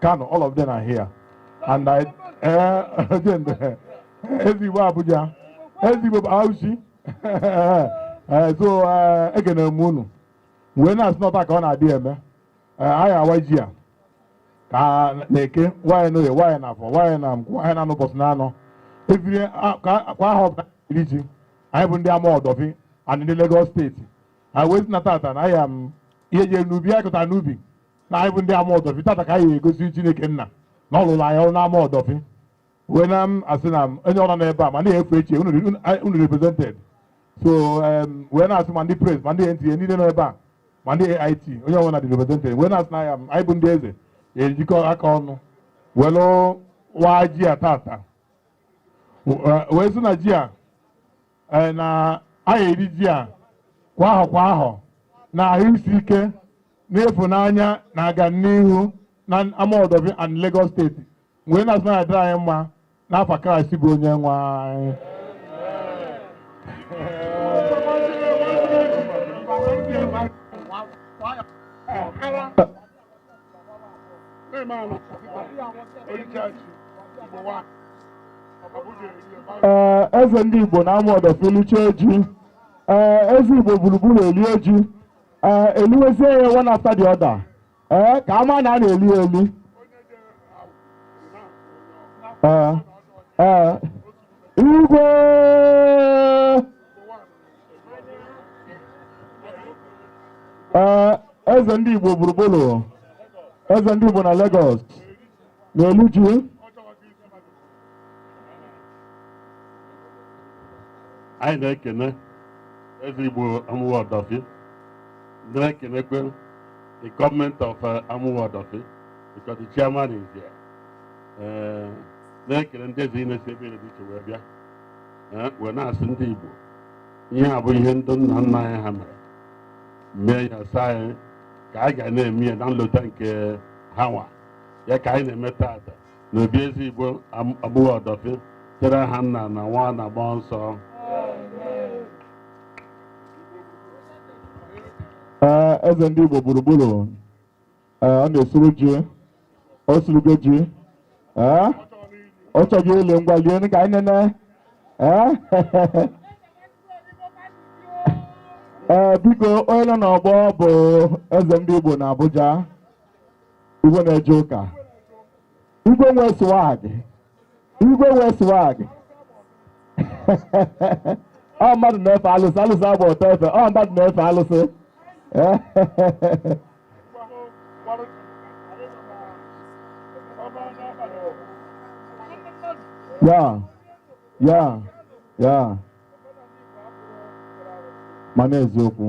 Kano, all of them are here. And I, eh, again, eze Igbo Abuja, eze Igbo Bauchi. Eh, so, eh, ekene m unu. Wee na-asị na ọta ka ọ na-adị eme. Eh, Anyị awaa ji a. Ka n'Eke, waa ya n'Oye, waa ya n'Afọ, waa ya na Nkwọ, waa ya n'ụbọchị naanọ. Ebiri a- ka- kwa ahọ ọbụla iri ji. Anyị bụ ndị Amuwo Odofin and ndị Lagos steeti. Anyị wee sị na tata na anyị ihe jere n'ubi, anyị kụtara n'ubi. na anyị bụ ndị Amuwo Odofin tata ka anyị egosi Chineke nna na ọ lụrụ anyị ọrụ n'Amuwo Odofin wee na-asị na onye ọbụla nọ ebe a ma na-efu echi unu re- unu- anyị- unu represented so em, wee na-asị ma ndị press ma ndị NTA niile nọ ebe a ma ndị AIT onye ọbụla dị represented wee na-asị na ya anyị bụ ndị eze ejikọ aka ọnụ wee lụọ waa ji a tata wee sị na ji a ee, na anyị eri ji a kwa ahọ kwa ahọ na ahụ isi ike na ịfụnanya na agamnihu na Amuwo Odofin and Lagos steeti wee na-asị na-adịrị anyị mma n'afa Kraịst bụ onye nwe anyị ee eze ndị Igbo na Amuwo Odofin lichee ji ee eze Igbo gburugburu elie ji ee eliwezie ya one after the other ee ka a ma na a na-eli ya eli ee ee igwe Ee, eze ndị Igbo gburugburu eze ndị Igbo na Lagos na-eli ji anyị na-ekene eze Igbo Amuwo Odofin na-ekenekwe the government of uh, Amuwo Odofin because the chairman is here Eh, na-ekene ndị eze niine si ebe niine dị iche wee bịa eh, wee na-asị ndị Igbo ihe a bụ ihe ndị nna nna anyị ha mere mee ya sị anyị ka anyị ga na-eme ya na nlota nke ha nwa ya ka anyị na-eme taata na obi eze Igbo Amuwo Odofin site n'aha nna na nwa na mmụọ nsọ Ee, eze ndị Igbo gburugburu ee ọ na-esuru ji o surugo ji ee ọ chọje ili ngwa lie nụ ka anyị nene ee ee biko onye nọ n'ọgbọ bụ eze ndị Igbo na Abuja igwe na-eje ụka igwe nwe swag igwe nwe swag ọ mmadụ na-efe alụsị alụsị agba ọtọ efe ọ mmadụ na-efe alụsị ya ya ya mana eziokwu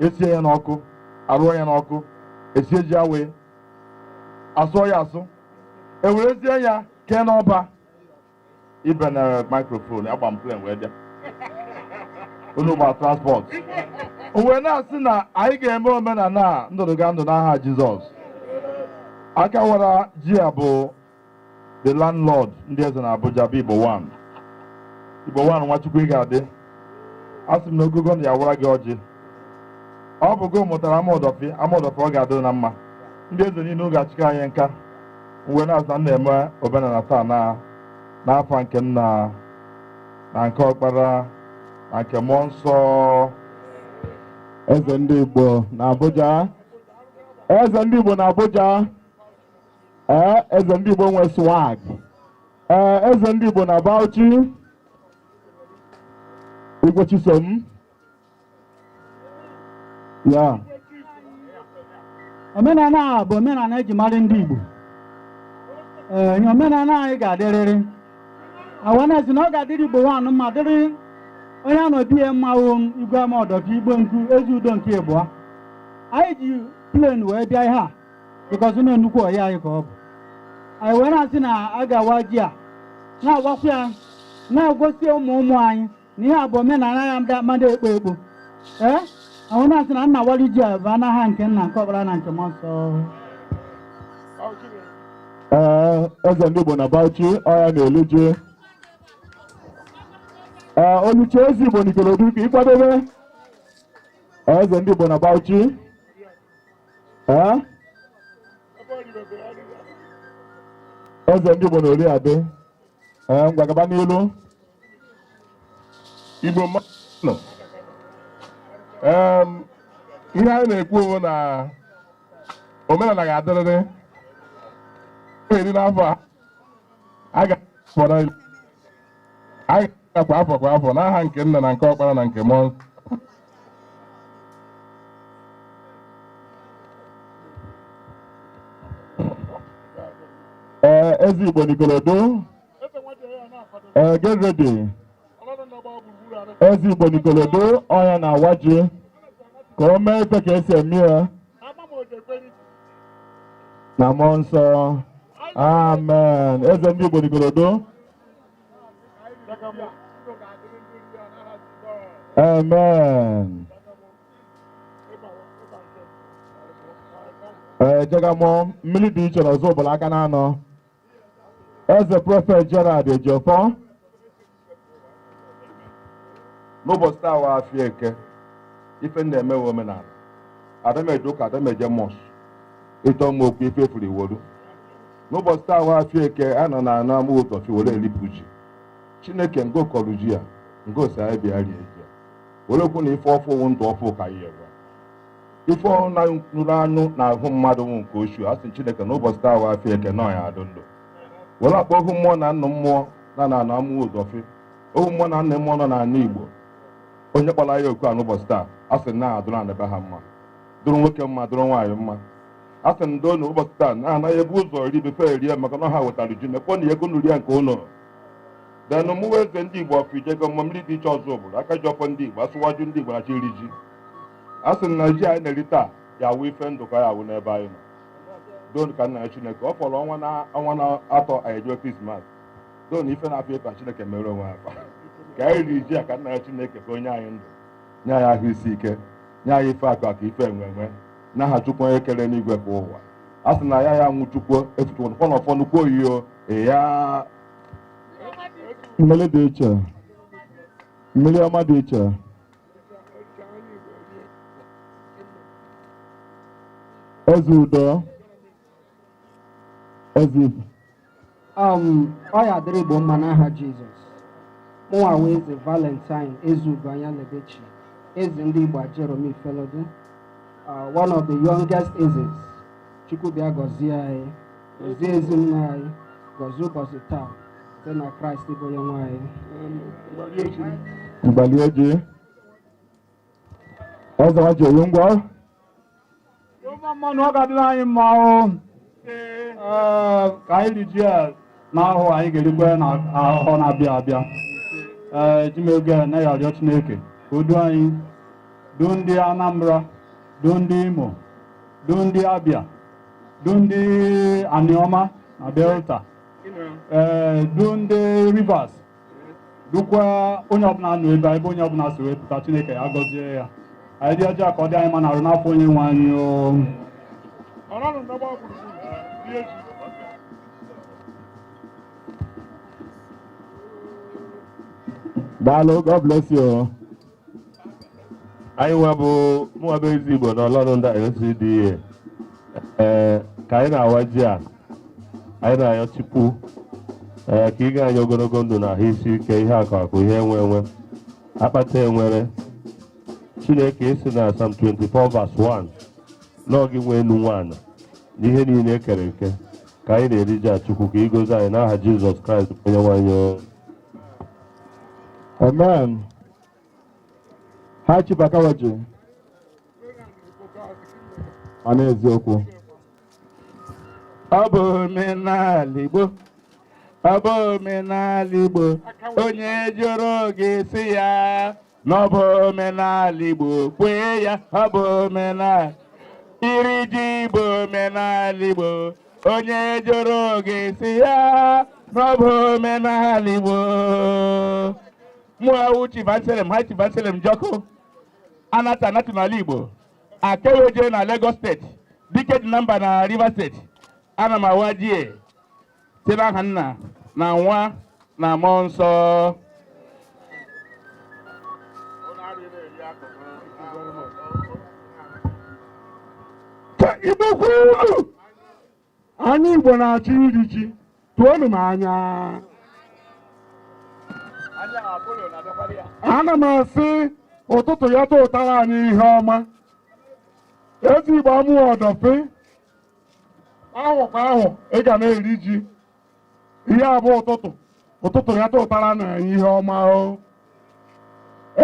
esie ya n'ọkụ arụọ ya n'ọkụ esie ji awaị asụọ ya asụ ewerezie ya kee n'ọba ibe na microphone agba m plane wee bịa unu gba transport m wee na-asị na anyị ga-eme omenala a ndụdụgandụ n'aha jizọs aka wara ji a bụ the landlord ndị eze na Abuja bụ Igbo one Igbo one Nwachukwu ị ga-adị asị m na ogogo ndụ ya wara gị ọjị ọ bụ gị mụtara Amuwo Odofin Amuwo Odofin ọ ga-adị na mma ndị eze niile ọ ga-achịkọ anyị nka m wee na-asị na na-eme omenala taa na n'afa nke nna na nke ọkpara na nke mmụọ nsọ eze ndị Igbo na Abuja eze ndị Igbo na Abuja ee eze ndị igbo nwe swag ee eze ndị igbo na bauchi igwe chisom ya omenala a bụ omenala eji mara ndị igbo ee nye omenala anyị ga-adịrịrị anyị wee na-asị na ọ ga-adịrị igbo one mma dịrị onye a nọ be ya mma wụ igwe Amuwo Odofin igbo nku eze udo nke ịbụa anyị ji plane wee bịa ihe a because na nnukwu ọyị anyị ka ọ bụ anyị wee na-asị na a ga-awa ji a na-awakwa ya na-egosi ụmụ ụmụ anyị na ihe a bụ omenala ya ndị mmadụ ekpo ekpo ee m wee na-asị na nna wali ji a bụ n'aha nke nna nke ọkpara na nke mmụọ nsọ Ee, eze ndị Igbo na Bauchi ọ ya na-eli ji. Ee, o liche eze Igbo n'Ikorodu ka ị kwadobe. Ee, eze ndị Igbo na Bauchi. Ee? eze ndị Igbo na Oriade ee ngwa gaba n'ilu Igbo mmadụ Em, ihe anyị na-ekwu bụ na omenala ga-adịrịrị eri n'afọ a a ga-akpọrọ anyị na kwa afọ kwa afọ n'aha nke nna na nke ọkpara na nke mmụọ nsọ. ee eze igbo n'ikorodu ee get ready eze igbo n'ikorodu ọ ya na-awa ji ka o mee ife ka e si eme ya na mmụọ nsọ amen eze ndị igbo n'ikorodu Amen. Ee, Ijegemo mmiri dị iche n'Ọzụbụlụ aka na anọ. Eze prọfet Gerald Ejiofor n'ụbọchị taa wụ afịa eke ife m na-eme wụ omenala ada m eje ụka ada m eje mosque ịchọ mma okwu ife furu iworu n'ụbọchị taa wụ afịa eke a nọ na amuwo odofin were elipụ ji chineke ngo kọrọ ji ya ngo sị anyị bịa rie ji a were kwuo na ife ọfụụ wụ ndụ ọfụụ ka anyị ewe ife ọrụ na nụrụ anụ na ahụ mmadụ nwụ nke ochu a sị chineke n'ụbọchị taa wụ afịa eke nọ ya adụ ndụ were akpọ ohu mmụọ na nnụ mmụọ na na amuwo odofin ohu mmụọ na nnụ mmụọ nọ n'ala igbo onye kpọrọ ya oku a n'ụbọchị taa a sị na adụrụ anaba ha mma dụrụ nwoke mma dụrụ nwaanyị mma a sị ndo na ụbọchị taa na anaghị ebu ụzọ ri befe erie maka na ha wetara ji mekpọ na ego nri ya nke ụlọ denụ mụwa eze ndị igbo of ijegemo mmiri dị iche ọzụbụlụ aka ji ọfọ ndị igbo asiwaju ndị igbo na-achọ iri ji a sị na ji anyị na-eri taa ya wụ ife ndụ ka ya wụ n'ebe anyị nọ doo ka m na-ayọ chineke ọ fọrọ ọnwa na ọnwa na atọ anyị ejewe krismas doo ife na-afịa ịta chineke mere onwe ya afa ka anyị riri ji a ka m na-ayọ chineke ka o nye anyị ndụ nye anyị ahụ isi ike nye anyị ife akụ akụ ife enwe enwe n'aha chukwu onye kere enigwe kee ụwa a sị na ya ya nwụ chukwu efuchukwu nkwọ na ọfọ nnukwu oyi o ya mmiri dị iche mmiri ọma dị iche eze udo eze um ọ ya dịrị igbo mma n'aha jizọs mụnwa wụ eze valentine ezeugo anya lebechi eze ndị igbo ajeromi ifelodun uh, one of the youngest ezes chukwu bịa gọzie anyị gọzie ezinụlọ anyị gọzie ụbọchị taa site na kraịst bụ onye nwe anyị mgbali ojii ọzọ ji oyi ngwa ụmụ mmanụ ọ ga-adịrị anyị mma ahụ ka anyị ri ji a n'ahọ a anyị ga-erikwa ya n'ahọ na-abịa abịa ee eji m oge a na-arịọ chineke ka o duo anyị duo ndị anambra duo ndị imo duo ndị abịa duo ndị aniọma na delta ee duo ndị rivers dukwa onye ọbụla nọ ebe a ebe onye ọbụla si wee pụta chineke ya gọzie ya anyị rie ji ka ọ dị anyị mma n'arụ n'afọ onye nwe anyị o daalụ god bless you anyị nwa bụ mụnwa bụ eze igbo na Olorunda LCDA ee ka anyị na-awa ji a anyị na-ayọ chukwu ee ka i nye anyị ogologo ndụ na ahụ isi ike ihe akụ akụ ihe enwe enwe akpata enwere chineke ị sị na Psalm 24 verse 1 na ọ gị nwe enu nwee ana na ihe niile e kere eke ka anyị na-eri ji a chukwu ka ị gọzie anyị n'aha jizọs kraịst onye nwe anyị Amen. High Chief a ka-awa ji ma n'eziokwu ọ bụ omenala Igbo ọ bụ omenala Igbo onye jụrụ gị sị ya na ọ bụ omenala Igbo kwee ya ọ bụ omenala iri ji bụ omenala Igbo onye jụrụ gị sị ya na ọ bụ omenala Igbo mụa wụ Chief Anselm High Chief Anselm Njoku anata anatụ n'ala Igbo Akeweje na Lagos steeti dike dị na mba na Rivers steeti ana m awa ji a site n'aha nna na nwa na mmụọ nsọ ka igbo kwuru anyị igbo na-achọ iri ji tụọnụ m anya ana m asị ụtụtụ ya tụtara anyị ihe ọma eze igbo Amuwo Odofin ahọ kwa ahọ ị ga na-eri ji ihe a bụ ụtụtụ ụtụtụ ya tụtara na anyị ihe ọma o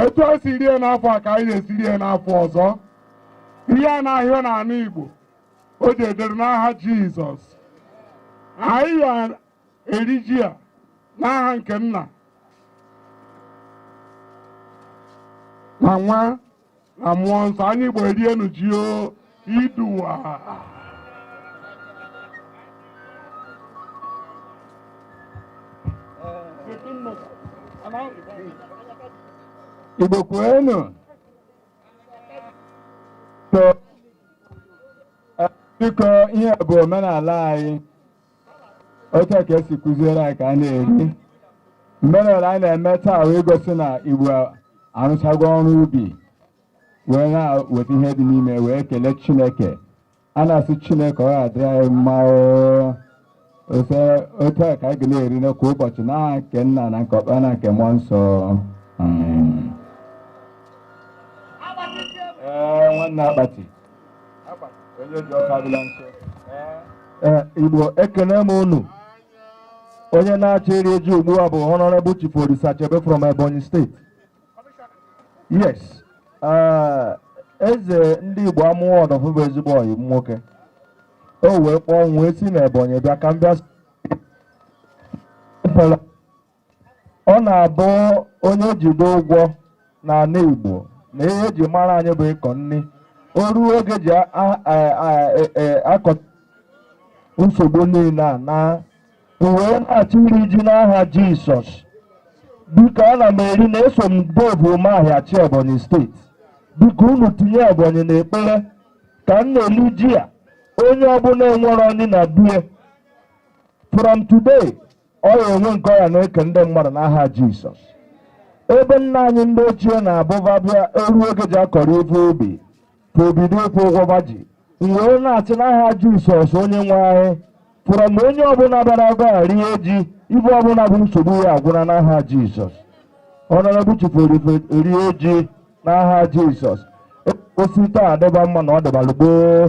etu a si rie n'afọ a ka anyị ga-esi rie n'afọ ọzọ ihe a na-ahịọ n'ala Igbo o ji edere n'aha Jizọs anyị ga-eri ji a n'aha nke nna na nwa na mmụọ nsọ anyị Igbo rienụ ji o iduwa Igbo kwenu to biko ihe bụ omenala anyị otu a ka esi kụziere anyị ka a na-eri omenala anyị na-eme taa wee gosi na Igbo arụchago ọrụ ubi wee na-weta ihe dị n'ime wee kelee chineke a na-asị chineke ọ ga-adịrị anyị mma oo. Ose otu a ka anyị ga na-eri kwa ụbọchị n'aha nke nna na nke ọkpara na nke mmụọ nsọ Amen. Ee, nwanne akpati Eh, Igbo ekene m unu onye na-achọ iri ji ugbu a bụ honorable chief Orisachebe from Ebonyi State yes eh, eze ndị Igbo Amuwo Odofin bụ ezigbo ọyị m nwoke o wee kpọọ m wee si na Ebonyi bịa ka m bịa ọ na-abụ onye jide ụgwọ n'ala Igbo na ihe eji mara anyị bụ ịkọ nri o ruo oge ji a- a- a- a- e- e- akọ nsogbu niile a na wee na-achọ iri ji n'aha Jisọs biko ana m eri na eso m Dave Umahi achị Ebonyi State biko unu tinye Ebonyi n'ekpere ka m na-eli ji a onye ọbụla enwerọ nni na bie from today Ọ ya-enwe nke ọ ya na-eke ndị mmadụ n'aha Jisọs. Ebe nna anyị ndị ochie na-abụ ba bịa eru oge ji akọrọ ife ubi ka e bido ịkwụ ụgwọ ba ji. M wee na-asị n'aha Jisọs onye nwe anyị fụrụ ma onye ọbụla bịara ebe a rie ji ife ọbụla bụ nsogbu ya agwụna n'aha Jisọs. Honorable chief rie ji n'aha Jisọs. O si taa dịba mma na ọ dịbalụ gboo.